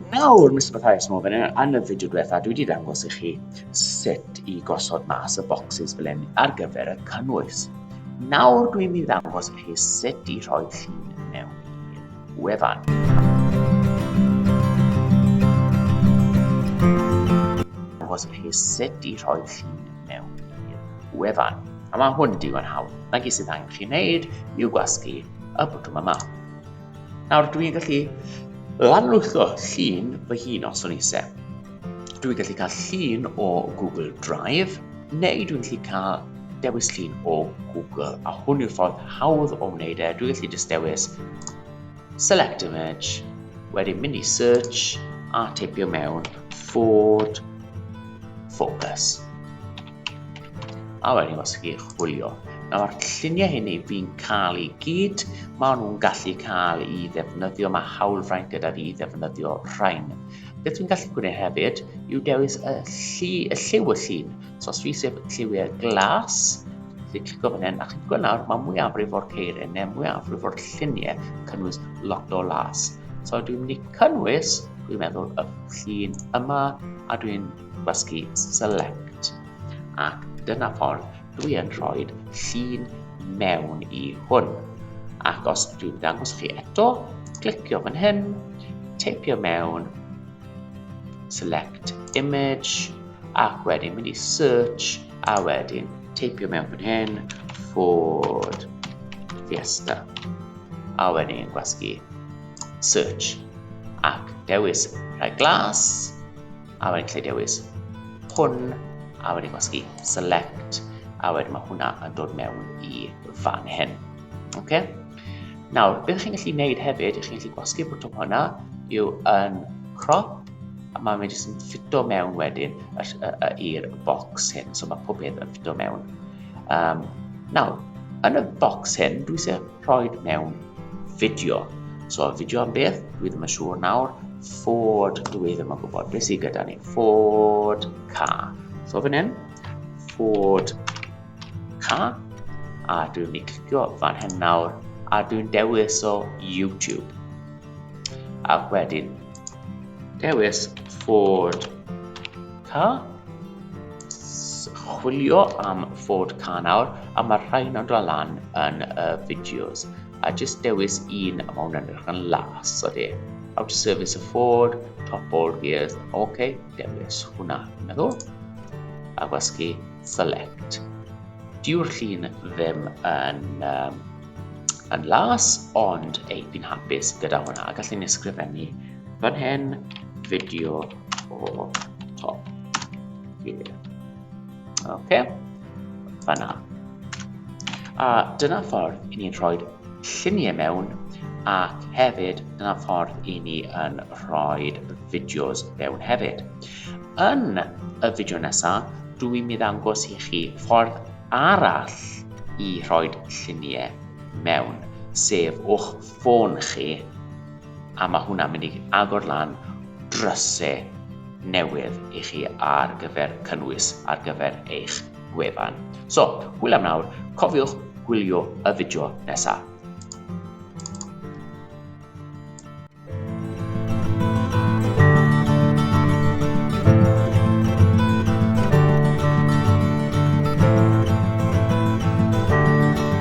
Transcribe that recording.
Nawr, Mr Mathias Morgan, yn y fideo diwetha, dwi wedi dangos i chi sut i gosod mas y bocsys fel hyn ar gyfer y cynnwys. Nawr, dwi'n mynd i ddangos i chi sut i rhoi llun mewn i'r wefan. Dangos i chi sut i rhoi llun mewn i'r wefan. A mae hwn digon hawdd. Na gyd sydd angen chi wneud yw gwasgu y bwtwm yma. Nawr dwi'n gallu lanlwytho llun fy hun os o'n i se. Dwi'n gallu cael llun o Google Drive, neu dwi'n gallu cael dewis llun o Google, a hwn yw'r ffordd hawdd o wneud e. Dwi'n gallu just dewis select image, wedyn mynd i search a teipio mewn Ford Focus. A wedyn os chi chwilio, nawr lluniau hyn i fi'n cael i gyd, maen nhw'n gallu cael i ddefnyddio, mae hawlfraint gyda fi i ddefnyddio rhain. Beth dwi'n gallu gwneud hefyd yw dewis y, llu, y lliw y llun. So os fi sef lliwiau glas, chi'n clicio fan hyn, a chi'n gweld nawr, mae mwyafrif o'r ceiriau neu mwyafrif o'r lluniau cynnwys lot o las. So dwi'n mynd i cynnwys, dwi'n meddwl, y llun yma, a dwi'n gwasgu select ac dyna ffordd dwi yn rhoi llun mewn i hwn ac os dwi'n dangos chi eto clicio fan hyn teipio mewn select image ac wedyn mynd i search a wedyn teipio mewn fan hyn Ford Fiesta a wedyn gwasgu search ac dewis rhai glas a wedyn lle dewis hwn, a wedyn gwasgu select, a wedyn mae hwnna yn dod mewn i fan hyn. Okay? Nawr, beth chi'n gallu gwneud hefyd, chi'n gallu gwasgu bwtwm hwnna yw yn crop, a mae fe jyst yn ffito mewn wedyn i'r box hyn, so mae pob peth yn ffito mewn. Um, nawr, yn y box hyn, dwi eisiau rhoi mewn fideo. So, fideo am beth? Dwi ddim yn siŵr nawr. Ford, dwi ddim yn gwybod. Beth sydd gyda ni? Ford car. So, fan hyn, Ford car. A dwi'n mynd i clicio fan hyn nawr. A dwi'n dewis o YouTube. A wedyn, dewis Ford Ca? Chwilio am fod ca nawr, a mae'r rhain yn dod lan yn y fideos. A jyst dewis un a mae hwnna'n edrych yn las, o de. How to service a Ford, top ball gears, ok, dewis hwnna, meddwl. A gwasgu select. Diw'r llun ddim yn um, yn las, ond ei, fi'n hapus gyda hwnna. Gallwn ni ysgrifennu fan hyn, fideo o top gear. OK, fanna. A dyna ffordd i ni'n rhoi lluniau mewn ac hefyd dyna ffordd i ni yn rhoi fideos mewn hefyd. Yn y fideo nesaf, dw i'n mynd angos i chi ffordd arall i rhoi lluniau mewn, sef o'ch ffôn chi a mae hwnna'n mynd i agor lan drysau newydd i chi ar gyfer cynnwys ar gyfer eich gwefan. So, hwyl am nawr, cofiwch gwylio y fideo nesaf.